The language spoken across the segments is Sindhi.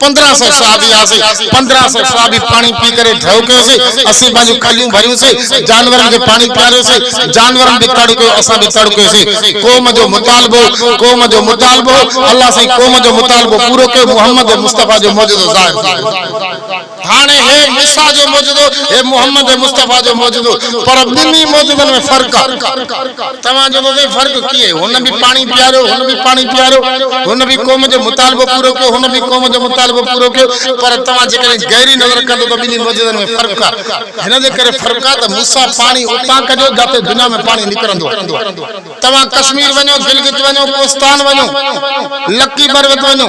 پندرهن سئو صحابي هئاسين، پندرهن سئو صحابي پاڻي پي ڪري ڍؤ ڪيوسين، اسين پنهنجون کليون ڀريوسين، جانورن کي پاڻي پياريوسين، جانورن به تڙ ڪيو، اسان به تڙ ڪيوسين، قوم جو مطالبو هو، قوم جو مطالبو هو، الله سائين قوم جو مطالبو پورو ڪيو، محمد مصطفيٰ جو معجزو ظاهر ٿي ويو. هاڻي هي عيسيٰ جو معجزو، هي محمد مصطفيٰ جو معجزو، پر ٻنهي معجزن ۾ فرق آ. توهان چوندو سائين فرق ڪيئن؟ هن به پاڻي پياريو، هن به پاڻي پياريو، هن به قوم جو مطالبو پورو ڪيو، هن به قوم جو مطالبو پورو ڪيو، پر توهان جيڪڏهن گهري نظر ڪندو ته ٻنهي معجزن ۾ فرق آ. هن جي ڪري فرق آ ته موسيٰ پاڻي اتان ڪڍيو جاتي دنيا ۾ پاڻي نڪرندو آ. توهان ڪشمير وڃو، گلگت وڃو، ڪوستان وڃو، لڪي بروت وڃو.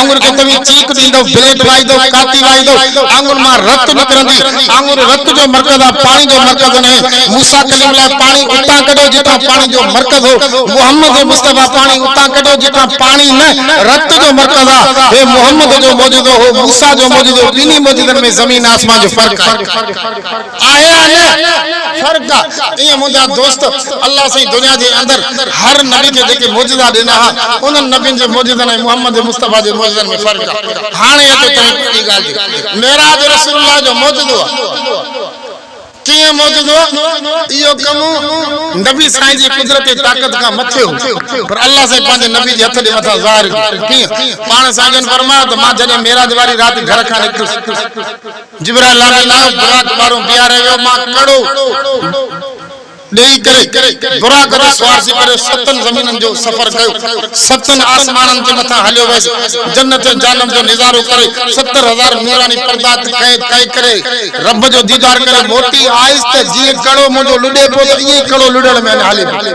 آڱر کي توهين چيڪ ڏيندؤ، بليڊ وائيندؤ، ڪاتي وائيندؤ، آڱر مان رت نڪرندي. آڱر رت جو مرڪز آ، پاڻي جو مرڪز ناهي. موسيٰ ڪليم لاء پاڻي اتان ڪڍيو جتان پاڻي جو مرڪز هو. محمد مصطفيٰ پاڻي اتان ڪڍيو جتان پاڻي نه، رت جو مرڪز آ. هي محمد جو معجزو هو، موسيٰ جو معجزو، ٻنهي معجزن ۾ زمين آسمان جو فرق آهي. آهي يا نه فرق آ ائين منهنجا دوست الله سائين دنيا جي اندر هر نبي کي جيڪي معجزا ڏنا ها انهن نبين جي معجزن ۽ محمد مصطفي جي معجزن ۾ فرق آ هاڻي اچو تنهن پهرين ڳالهه تي معراج رسول الله جو معجزو آ ڪيئن معجزو آ اهو ڪم نبي سائين جي قدرتي طاقت کان مٿي هو پر الله سائين پنهنجي نبي جي هٿ جي مٿان ظاهر ڪيو ڪيئن پاڻ سائين جن فرمايو ته مان جڏهن معراج واري رات گهر کان نڪتس جبران لاري لايو براق ٻارون بيهاري ويو مان ڪڙو ڏيئي ڪري براق تي سوار ٿي ڪري ستن زمينن جو سفر ڪيو ستن آسمانن جي مٿان هليو ويس جنت جهنم جو نظارو ڪري ستر هزار نوراني پردا طئي ڪري رب جو ديدار ڪري موٽي آيس ته جيئن ڪڙو منهنجو لڏي پيو ته ائين ئي ڪڙو لڏڻ ۾ اڃا هلي پيو.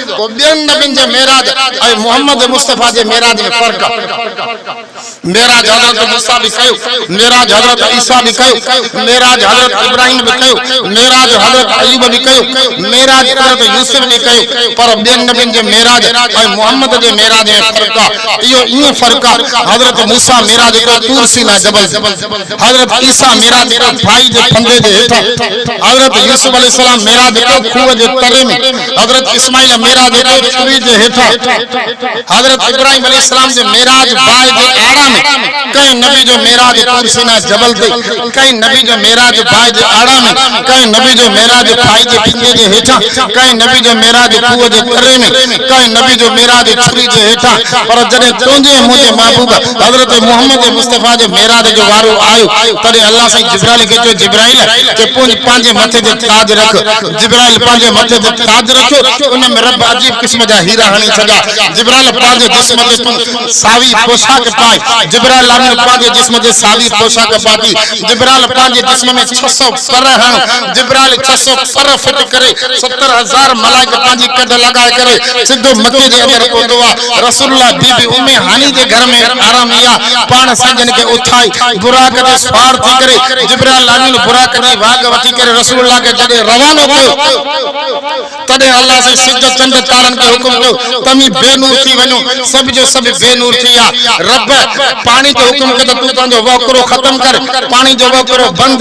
ڪو ٻين نبين جي معراج ۽ محمد مصطفيٰ جي معراج ۾ فرق آ. معراج حضرت موسيٰ به ڪيو، معراج حضرت عيسيٰ به ڪيو، معراج حضرت ابراهيم به ڪيو، معراج حضرت ايوب به ڪيو، معراج حضرت يوسف به ڪيو، پر ٻين نبين جي معراج ۽ محمد جي معراج ۾ فرق آ. اهو ائين فرق آ، حضرت موسيٰ معراج ڪيو طور سيناء جبل تي، حضرت عيسيٰ معراج ڪيو ڦاهي جي ڦندي جي هيٺان، حضرت يوسف عليه السلام معراج ڪيو کوهه جي تري ۾، حضرت اسماعيل معراج تي ڇري جي هيٺان حضرت ابراهيم عليه السلام جي معراج باهه جي آڙا ۾ ڪنهن نبي جو معراج طور سينا جبل تي ڪنهن نبي جو معراج باهه جي آڙا ۾ ڪنهن نبي جو معراج ڦائي جي ڦڃي جي هيٺان ڪنهن نبي جو معراج کوهه جي تري ۾ ڪنهن نبي جو معراج ڇري جي هيٺان پر جڏهن تنهنجي ۽ منهنجي محبوب حضرت محمد مصطفيٰ جي معراج جو وارو آيو تڏهن الله سائين جبرائيل کي چيو جبرائيل چي پنهنجي مٿي تي تاج رک جبرائيل پنهنجي مٿي تي تاج رکيو، ان ۾ رب عجيب قسم جا هيرا هڻي ڇڏيا. جبرائيل پنهنجي جسم تي تون ساوي پوشاڪ پائي. جبرائيل امين پنهنجي جسم تي ساوي پوشاڪ پاتي. جبرائيل پنهنجي جسم ۾ ڇهه سؤ پر هڻ. جبرائيل ڇهه سؤ پر فٽ ڪري ستر هزار ملائڪ پنهنجي ڪڍ لڳائي ڪري سڌو مٿي جي اندر پهتو آ. رسول الله بي بي ام هاني جي گهر ۾ آرام ايا پاڻ سنگين کي اٿائي براق تي سوار ٿي ڪري جبرائيل امين براق جي واڳ وٺي ڪري رسول الله کي جڏهن روانو ڪيو تڏهن الله سائين سج چنڊ تارن کي حڪم ڪيو توهين بي نور ٿي وڃو سڀ جو سڀ بي نور ٿي ويا رب پاڻي جو حڪم ڪيو ته تون پنهنجو وهڪرو ختم ڪر پاڻي جو وهڪرو بند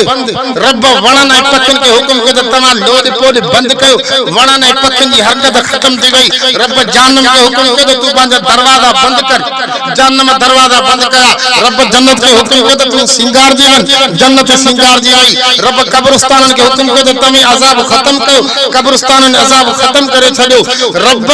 رب وڻن ۽ پکين کي حڪم ڪيو ته توهان لوڏ پوڏ بند ڪيو. وڻن ۽ پکين جي حرڪت ختم ٿي وئي. رب جهنم کي حڪم ڪيو ته تون پنهنجا دروازا بند ڪر. جهنم دروازا بند ڪيا. رب جنت کي حڪم ڪيو ته تون سينگارجي وڃ. جنت سينگارجي وئي. رب قبرستانن کي حڪم ڪيو ته توهين عذاب ختم ڪيو. قبرستانن عذاب ختم ڪري ڇڏيو. رب.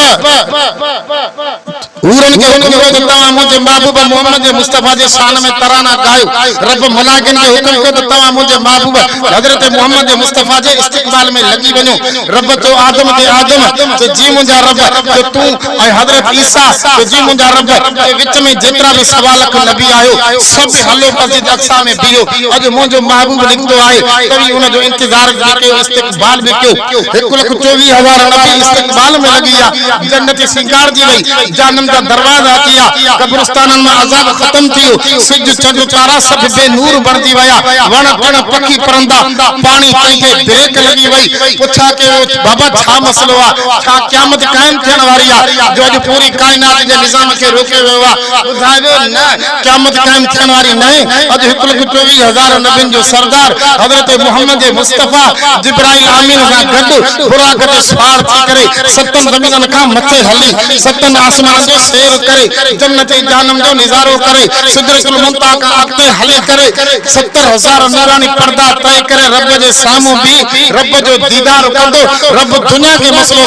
حورن کي حڪم ڪيو ته توهان منهنجي محبوب محمد مصطفيٰ جي شان ۾ ترانا ڳايو. رب ملائڪن کي حڪم ڪيو ته توهان منهنجي محبوب حضرت محمد مصطفيٰ جي استقبال ۾ لڳي وڃو. رب چيو آدم کي آدم چيو جي منهنجا رب چيو تون ۽ حضرت عيسيٰ چيو جي منهنجا رب چيو وچ ۾ جيترا به سوا لک نبي آهيو سڀ هلو مسجد اقصيٰ ۾ بيهو اڄ منهنجو محبوب نڪتو آهي توهين ان جو انتظار ڪيو. استقبال به ڪيو، هڪ لک چوويهه هزار نبي استقبال ۾ لڳي ويا، جنت سينگارجي وئي، جهنم جا دروازا اچي ويا، قبرستانن مان عذاب ختم ٿي ويو، سج، چنڊ، تارا سڀ بي نور بڻجي ويا، وڻ ٽڻ، پکي پرندا، پاڻي تنهن تي بريڪ لڳي وئي، پڇا ڪيو ويو ته بابا ڇا مسئلو آهي، ڇا قيامت قائم ٿيڻ واري آهي، جو اڄ پوري ڪائنات جي نظام کي روڪيو ويو آهي، ٻڌايو ويو نه! قيامت قائم ٿيڻ واري ناهي. اڄ هڪ لک چوويهه هزار نبين جو سردار حضرت محمد مصطفيٰ جبرائيل آمين سان گڏ براق تي سوار ٿي ڪري ستن زمينن کان مٿي هلي ستن آسمانن جو سير ڪري جنت جهنم جو نظارو ڪري سدرة المنتهيٰ کان اڳتي هلي ڪري ستر هزار نوراني پردا طئي ڪري رب جي سامهون بيهي رب جو ديدار ڪندو رب دنيا کي مسئلو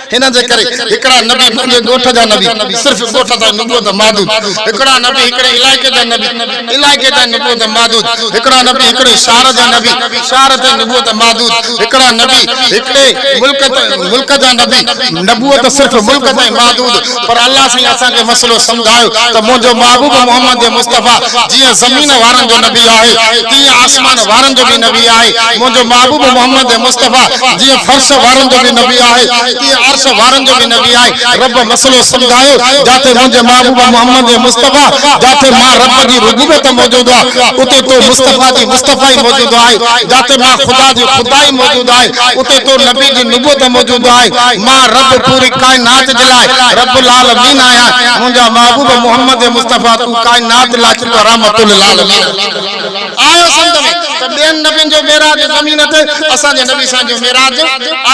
هن جي ڪري هڪڙا نبي پنهنجي ڳوٺ جا نبي، صرف ڳوٺ تائين نبوت محدود، هڪڙا نبي هڪڙي علائقي جا نبي، علائقي تائين نبوت محدود، هڪڙا نبي هڪڙي شهر جا نبي، شهر تائين نبوت محدود، هڪڙا نبي هڪڙي ملڪ، ملڪ جا نبي، نبوت صرف ملڪ تائين محدود، پر الله سائين اسان کي مسئلو سمجهايو ته منهنجو محبوب محمد مصطفيٰ جيئن زمين وارن جو نبي آهي تيئن آسمان وارن جو به نبي آهي منهنجو محبوب محمد مصطفيٰ جيئن فرش وارن جو به نبي آهي تيئن عرش وارن جو به نبي آهي رب مسئلو سمجهايو جاتي منهنجي محبوب محمد مصطفيٰ جاتي مان رب جي ربوبيت موجود آهي اتي تو مصطفيٰ جي مصطفيٰ ئي موجود آهي جاتي مان خدا جي خدا ئي موجود موجود آهي، اتي تو نبي جي نبوت موجود آهي، مان رب پوري ڪائنات جي لاء رب العالمين آهيان، منهنجا محبوب محمد مصطفيٰ تون ڪائنات لاء چونڊو رحمت للعالمين آهيو سنڌ ۾ ته ٻين نبين جو معراج زمين تي اسان جي نبي سائين جو معراج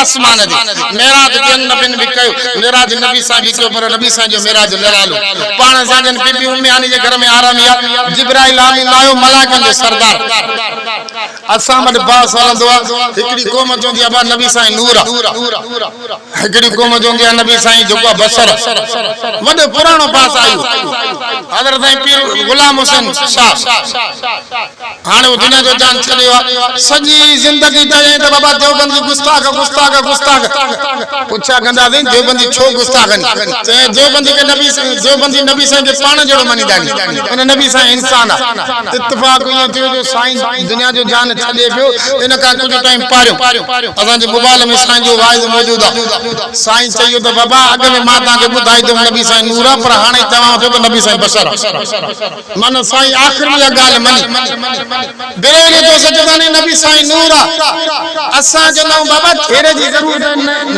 آسمان تي معراج ٻين نبين به ڪيو معراج نبي سائين به ڪيو پر نبي سائين جو معراج نرالو پاڻ سان جن بي بي امي هاني جي گهر ۾ آرامي آهي جبرائيل آمين آهيو ملائڪن جو سردار. اسان وٽ باس هلندو آ. هڪڙي قوم چوندي آ بس نبي سائين نور آ. هڪڙي قوم چوندي آ نبي سائين جيڪو آ بشر آ. وڏو پراڻو باس آيو. حضرت سائين پير غلام حسين شاهه هاڻي هو دنيا جو جان ڇڏيو آ. سڄي زندگي چيائين ته بابا ديوبند جي گستاخ گستاخ گستاخ. پڇا ڪنداسين ديوبندي ڇو گستاخ آهن چيائين ديوبندي کي نبي سائين ديوبندي نبي سائين کي پاڻ جهڙو مڃيندا آهن ان نبي سائين انسان آ اتفاق ائين ٿيو جو سائين دنيا جو جان ڇڏي پيو ان کان ڪجهه ٽائيم پهريون اسان جي موبائل ۾ سائين جو واعظ موجود آ سائين چيو ته بابا اڳ ۾ مان توهان کي ٻڌائي ٿيم نبي سائين نور آ پر هاڻي چوان ٿو ته نبي سائين بشر آ. معنيٰ سائين آخر ۾ اها ڳالهه مڃي. بروهيني جو سجداني نبي سائين نور آ. اسان جو نئون بابا ڪھيڙي جي ضرورت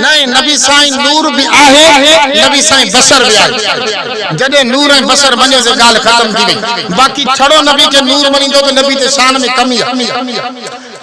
ناھي نبي سائين نور به آھي نبي سائين بصر به آھي جڏھن نور ۽ بصر مڃيو سي ڳالهه ختم ٿي وئي باقي ڇڙو نبي کي نور مڃيندو ته نبي تي شان ۾ ڪمي آ.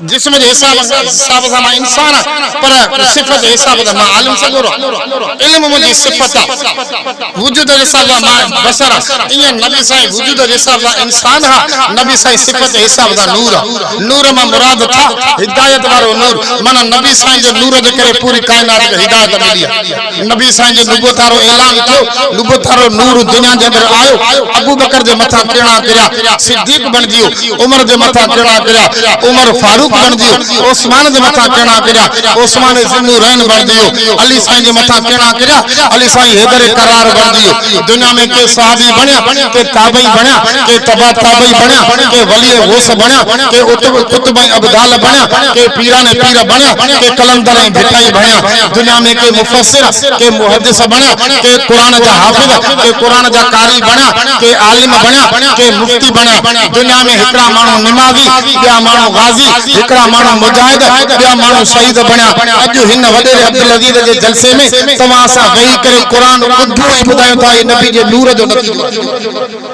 جسم جي حساب حساب سان مان انسان آ پر صفت جي حساب سان مان عالم سڳورو آ علم منهنجي صفت آ وجود جي حساب سان مان بشر آ ايئن نبي سائين وجود جي حساب سان انسان ها نبي سائين صفت جي حساب سان نور آ نور مان مراد ٿا هدايت وارو نور معنيٰ نبي سائين جي نور جي ڪري پوري ڪائنات کي هدايت ملي آ. نبي سائين جي نبوت وارو اعلان ٿيو، نبوت وارو نور دنيا جي اندر آيو، ابوبڪر جي مٿان ڪرڻا ڪريا، صديق بڻجي ويو، عمر جي مٿان ڪرڻا ڪريا، عمر فاروق بڻجي ويو، عثمان جي مٿان ڪرڻا ڪريا، عثمان ذو النورين بڻجي ويو، علي سائين جي مٿان ڪرڻا ڪريا، علي سائين حيدر ڪرار بڻجي ويو، دنيا ۾ ڪي صحابي بڻيا، ڪي تابعي بڻيا، ڪي تبع تابعي بڻيا، ڪي ولي غوث بڻيا، ڪي قطب ۽ ابدال بڻيا، ڪي پيران ۽ پير بڻيا، ڪي قلندر ۽ ڀٽائي بڻيا، دنيا ۾ ڪي مفسر، ڪي محدث بڻيا، ڪي قرآن جا حافظ، ڪي قرآن جا قاري بڻيا، ڪي عالم بڻيا، ڪي مفتي بڻيا، دنيا ۾ هڪڙا ماڻهو نمازي، ٻيا ماڻهو غازي، هڪڙا ماڻهو مجاهد، ٻيا ماڻهو شهيد بڻيا، اڄ هن وڏيري عبدالعزيز جي جلسي ۾ توهان سان ويهي ڪري قرآن ٻڌو ۽ ٻڌايون ٿا، هي نبي جي نور جو نتيجو آهي.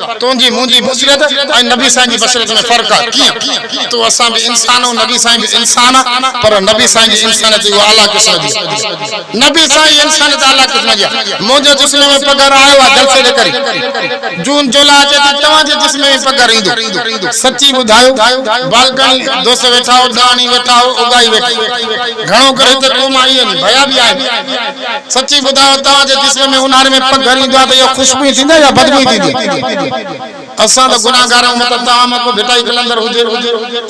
تنهنجي منهنجي بصيرت ۽ نبي سائين جي بصيرت ۾ فرق آهي ڪيئن؟ تون اسان به انسان آهون نبي سائين به انسان آهي پر نبي سائين جي انسانيت اها اعليٰ قسم جي آهي نبي سائين جي انسانيت اعليٰ قسم جي آهي منهنجو جسم ۾ پگهر آيو آهي جلسي جي ڪري جون جولاء اچي ٿي توهان جي جسم ۾ پگهر ايندو سچي ٻڌايو بالڪاڻي دوست ويٺا هو ڏاڻي ويٺا هو اگهائي ويٺي گهڻو ڪري هتي قوم آئي آهن ڀيا به آهن سچي ٻڌايو توهان جي جسم ۾ اونهاري ۾ پگهر ايندو آهي ته اها خوشبو ئي ٿيندي يا بدبو ئي ٿيندي؟ اسان ته گناهگار آهيون مطلب توهان مان ڪو ڀٽائي قلندر هجي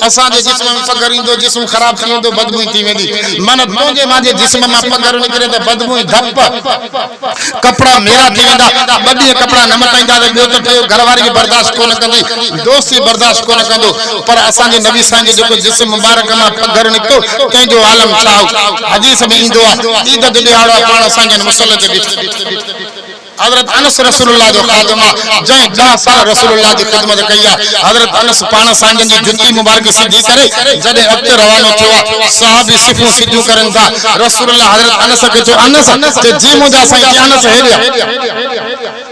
اسان جي جسم ۾ پگهر ايندو جسم خراب ٿي ويندو بدبو ئي ٿي ويندي معنيٰ تنهنجي مانجي جسم مان پگهر نڪري ته بدبو ۽ ڌپ ڪپڙا ميرا ٿي ويندا ٻه ڏينهن ڪپڙا نه مٽائينداسين ٻيو ته ٽيو گهر واري به برداشت ڪونه ڪندي دوست به برداشت ڪونه ڪندو پر اسان جي نبي سائين جو جيڪو جسم مبارڪ مان پگهر نڪتو تنهن جو عالم ڇا هو؟ حديث ۾ ايندو آهي، عيد جو ڏيهاڙو آهي، پاڻ اسان جن مصلي تي بيٺي. حضرت انس رسول الله جو خادم آهي، جنهن ڏهه سال رسول الله جي خدمت ڪئي آهي. حضرت انس پاڻ سائين جن جي جتي مبارڪ سڌي ڪري جڏهن اڳتي روانو ٿيو آهي، صحابي صفون سڌيون ڪرن ٿا، رسول الله حضرت انس کي چيو، انس! چي، جي منهنجا سائين! چي، انس هيڏي آ!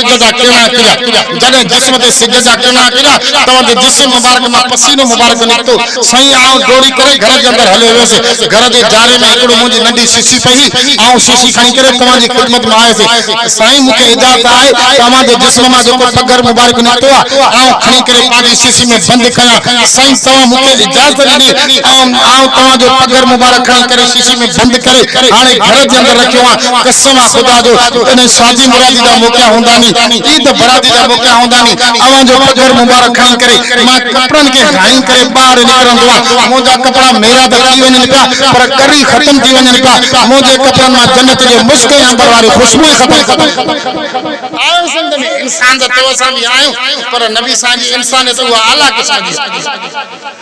سج جا ڪرڻا ڪريا جڏهن جسم تي سج جا ڪرڻا ڪريا توهان جي جسم مبارڪ مان پسينو مبارڪ نڪتو سائين آئون ڊوڙي ڪري گهر جي اندر هليو ويس گهر جي جاري ۾ هڪڙو منهنجي ننڍي شيشي پئي هئي آئون شيشي کڻي ڪري توهان جي خدمت ۾ آيس سائين مون کي اجازت آهي ته اوهان جي جسم مان جيڪو پگهر مبارڪ نڪتو آهي آئون کڻي ڪري پنهنجي شيشي ۾ بند ڪيان سائين توهان مون کي اجازت ڏني آئون توهان جو پگهر مبارڪ کڻي ڪري شيشي ۾ بند ڪري هاڻي گهر جي اندر رکيو آهيان قسم آ خدا جو جڏهن شادي مرادي جا موقعا هوندا ني عيد برادي جا موقعا هوندا ني اوهان جو پگهر مبارڪ کڻي ڪري مان ڪپڙن کي هائين ڪري ٻاهر نڪرندو آ منهنجا ڪپڙا ميرا ته ٿي وڃن پيا پر ڳري ختم ٿي وڃن پيا منهنجي ڪپڙن مان جنت جي مشڪ ۽ عنبر واري خوشبو ئي ختم ٿي آهي سنڌ ۾ انسان ته تو اسان به آهيون پر نبي سائين جي انسانيت اها اعليٰ قسم جي آهي.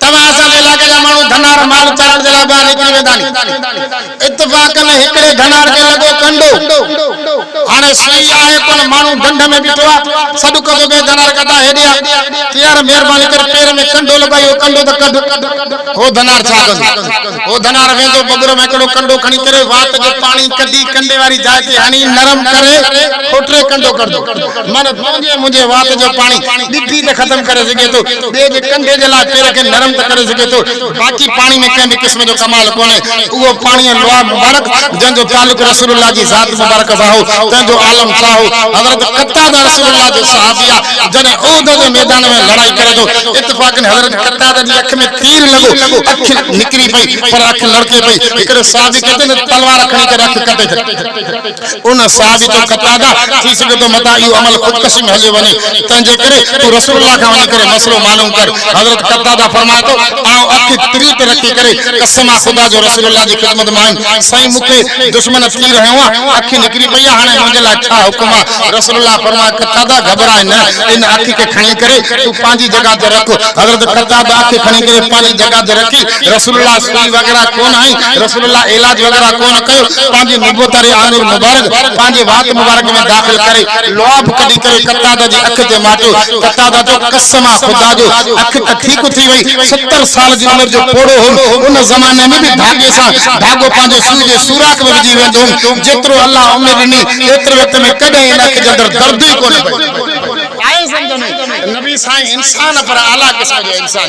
توهان اسان جي علائقي جا ماڻهو ڌنار مال چارڻ جي لاء ٻاهر نڪري ويندا ني. اتفاق ۾ هڪڙي ڌنار کي لڳو ڪنڊو. هاڻي سوئي آهي ڪونه ماڻهو ڍنڍ ۾ بيٺو آ. سڏ ڪندو ڪي ڌنار ڪڍاء هيڏي آ. تيار مهرباني ڪري پير ۾ ڪنڊو لڳو آهي اهو ڪنڊو ته ڪڍ. هو ڌنار ڇا ڪندو. هو ڌنار ويندو ببر مان هڪڙو ڪنڊو کڻي ڪري وات جو پاڻي ڪڍي ڪنڊي واري جاء تي هڻي نرم ڪري پوء ٽي ڪنڊو ڪڍندو. معنيٰ تنهنجي منهنجي وات جو پاڻي ڏٺي ته ختم ڪري سگهي ٿو. ٻئي جي ڪنڌي جي لاء پير کي نرم ته ڪري سگهي ٿو، باقي پاڻي ۾ ڪنهن به قسم جو ڪمال ڪونهي. اهو پاڻي ۽ لعاب مبارڪ، جنهن جو تعلق رسول الله جي ذات مبارڪ سان هو، تنهن جو عالم ڇا هو؟ حضرت قتاده رسول الله جو صحابي آهي، جڏهن احد جي ميدان ۾ لڙائي ڪري ٿو، اتفاقن حضرت قتاده جي اک ۾ تير لڳو، اک نڪري پئي، پر اک لڙڪي پئي، هڪڙي صحابي چئي ٿو ته تلوار کڻي ڪري اک ڪٽي ڇڏ. ان صحابي جو قتاده ٿي سگهي ٿو متان اهو عمل خودڪشي ۾ هليو وڃي تنهنجي ڪري تون رسول الله کان وڃي ڪري مسئلو معلوم ڪر حضرت قتاده فرمائي ٿو آئون اکي تري تي رکي ڪري قسم آ خدا جو رسول الله جي خدمت مان آيم سائين مون کي دشمن تير هنيو آ اکي نڪري پئي آ هاڻي منهنجي لاء ڇا حڪم آ رسول الله فرمائي قتاده گهٻرائي نه ان اکي کي کڻي ڪري تون پنهنجي جڳهه تي رک حضرت قتاده اکي کڻي ڪري پنهنجي جڳهه تي رکي رسول الله سوري وغيره ڪونه آهي، رسول الله علاج وغيره ڪونه ڪيو، پنهنجي نبوت واري آڱر مبارڪ پنهنجي وات مبارڪ ۾ داخل ڪري لعاب ڪڍي ڪري قتاده جي اک تي ماٽيو، قتاده چيو قسم آ خدا جو اک ته ٺيڪ ٿي وئي، ستر سال جي عمر جو پوڙهو هوم، ان زماني ۾ به ڌاڳي سان ڌاڳو پنهنجي سوئي جي سوراخ ۾ وجهي ويندو هوم، جيترو الله عمر ڏني ايتري وقت ۾ ڪڏهن ان اک جي اندر درد ئي ڪونه پيو. آهي سمجهه ۾ ته نبي سائين انسان پر اعليٰ قسم جو انسان.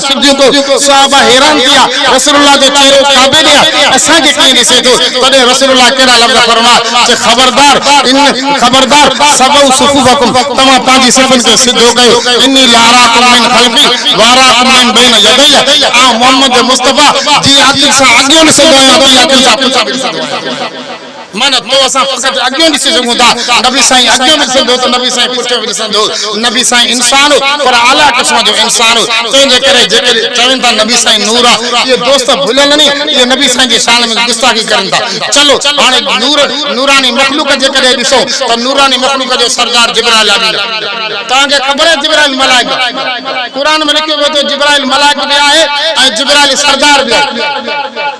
صديق صحابه حيران ٿيا رسول الله جو چهرو ڪعبي ڏي آهي اسان کي ڪيئن ڏسي ٿو تڏهن رسول الله ڪهڙا لفظ فرمايا چي خبردار ان خبردار سووا صفوفڪم توهان پنهنجي صفن کي سڌو ڪيو اني لاراڪم من خلفي واراڪم من بين يدي آئون محمد مصطفيٰ جي اکين سان اڳيون ڏسندو آهيان ۽ اکين سان پڇا به ڏسندو آهيان. معنيٰ تو اسان فقط اڳيون ڏسي سگهون ٿا، نبي سائين اڳيون به ڏسندو هو ته نبي سائين پٺيون به ڏسندو هو، نبي سائين انسان هو پر اعليٰ قسم جو انسان هو، تنهن جي ڪري جيڪي چون ٿا نبي سائين نور آ، اهي دوست ڀليل ني، اهي نبي سائين جي شان ۾ گستاخي ڪرن ٿا، چلو هاڻي نور نوراني مخلوق جي ڪڏهن ڏسون ته نوراني مخلوق جو سردار جبرائيل آمين. توهان کي خبر آهي جبرائيل ملائڪ آ، قرآن ۾ لکيو ويو ته جبرائيل ملائڪ به آهي ۽ جبرائيل سردار به آهي.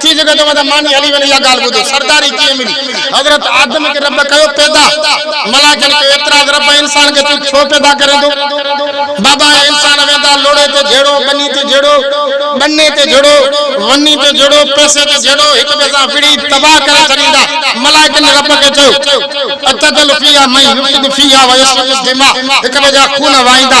ٿي سگهي ٿو ته ماني هلي وڃي اها ڳالهه ٻڌي سرداري ڪيئن ملي حضرت آدم کي رب ڪيو پيدا ملائڪن ڪيو اعتراض رب انسان کي تون ڇو پيدا ڪرين ٿو بابا اهي انسان ويندا لوڙهي تي جهيڙو ٻني تي جهيڙو ٻني تي جهيڙو وني تي جهيڙو پئسي تي جهيڙو هڪ ٻئي سان وڙهي تباهه ڪري ڇڏيندا ملائڪن رب کي چيو اتدخل فيها من يفسد فيها ويسفڪ الدماء هڪ ٻئي جا خون وهائيندا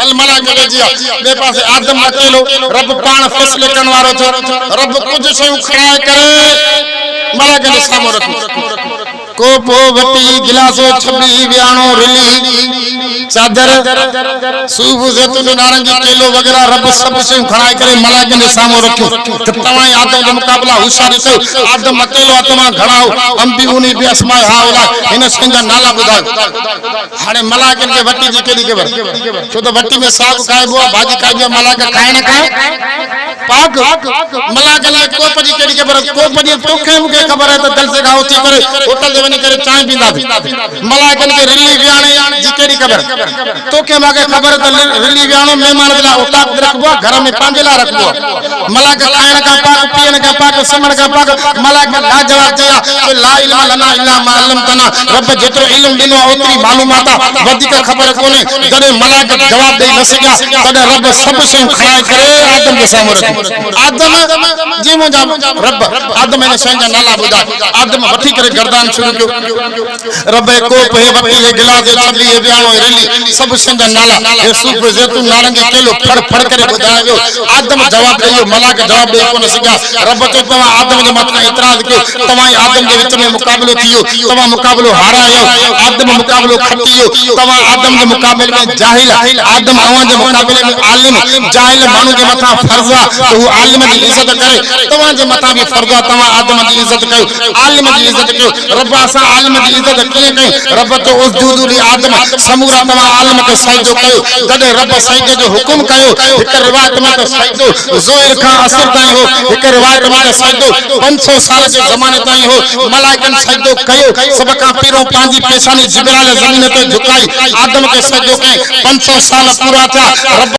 هل ملائي ملي جيا. ٻئي پاسي آدم اڪيلو. رب پاڻ فيصلي ڪرڻ وارو ٿيو. رب ڪجهه شيون کڻائي ڪري ملائڪن جي سامهون رکيون. ڪوپ وٽي گلاسو ڇٻي وياڻو رلي چادر صوف زيتون جو نارنگي ڪيلو وغيره رب سڀ شيون کڻائي ڪري ملائڪن جي سامهون رکيون ته توهان ۽ آدم جو مقابلا هوشياري ڪيو آدم اڪيلو آ توهان گهڻا آهو انبئوني بي اسماء هاء اولاء هن شين جا نالا ٻڌايو. هاڻي ملاڪن کي وٽي جي ڪهڙي خبر ڇو ته وٽي ۾ ساڳ کائبو آ ڀاڄي کائبي آ ملاڪ کائي نه کائي پاڪ ملاڪن کي ڪوپ جي ڪهڙي خبر ڪوپ جي توکي ۽ مونکي خبر آهي ته جلسي کان اٿي ڪري هوٽل تي وڃي ڪري چانهه پينداسين ملاڪن کي رلي ويهاڻي جي ڪهڙي خبر توکي ماکي خبر ته رلي ويهاڻو مهمانن جي لاء اوطاق تي رکبو آ گهر ۾ پنهنجي لاء رکبو آ ملائڪ کائڻ کان پاڪ، پيئڻ کان پاڪ، سمهڻ کان پاڪ، ملائڪ لاجواب چيا ته لا علم لنا الا ما علمتنا، رب جيترو علم ڏنو آهي اوتري معلومات آهي، وڌيڪ خبر ڪونهي، جڏهن ملائڪ جواب ڏئي نه سگهيا تڏهن رب سڀ شيون کڻائي ڪري آدم جي سامهون رکيون، آدم! جي منهنجا رب! آدم هن شين جا نالا ٻڌاء، آدم وٺي ڪري گردان شروع ڪيو. ربي ڪوپ هي وٽي هي گلاس هي چنڊي هي وياڻو هي رلي سڀ شين جا نالا هي صوف زيتون نارنگي ڪيلو ڦڙ ڦڙ ڪري ٻڌايو ويو آدم جواب ڏئي ويو ملاڪ جواب ڏئي ڪونه سگهيا رب چيو توهان آدم جي مٿان اعتراض ڪيو توهان ۽ آدم جي وچ ۾ مقابلو ٿي ويو توهان مقابلو هارايو آدم مقابلو کٽي ويو توهان آدم جي مقابلي ۾ جاهل آدم اوهان جي مقابلي ۾ عالم جاهل ماڻهو جي مٿان فرض آ ته هو عالم جي عزت ڪري توهان جي مٿان به فرض آ توهان آدم جي عزت ڪيو عالم جي عزت ڪيو رب اسان عالم جي عزت ڪيئن ڪئي؟ رب چيو اسجودوا لآدم سمورا توهان عالم کي سجدو ڪيو جڏهن رب سجدي جو حڪم ڪيو هڪ روايت ۾ ته سجدو ظهر کان عصر تائين هو هڪ روايت ۾ ته سجدو پنج سؤ سال جي زماني تائين هو ملائڪن سجدو ڪيو سڀ کان پهريون پنهنجي پيشاني جبرائيل زمين تي جهڪائي آدم کي سجدو ڪيائين پنج سؤ سال پورا ٿيا رب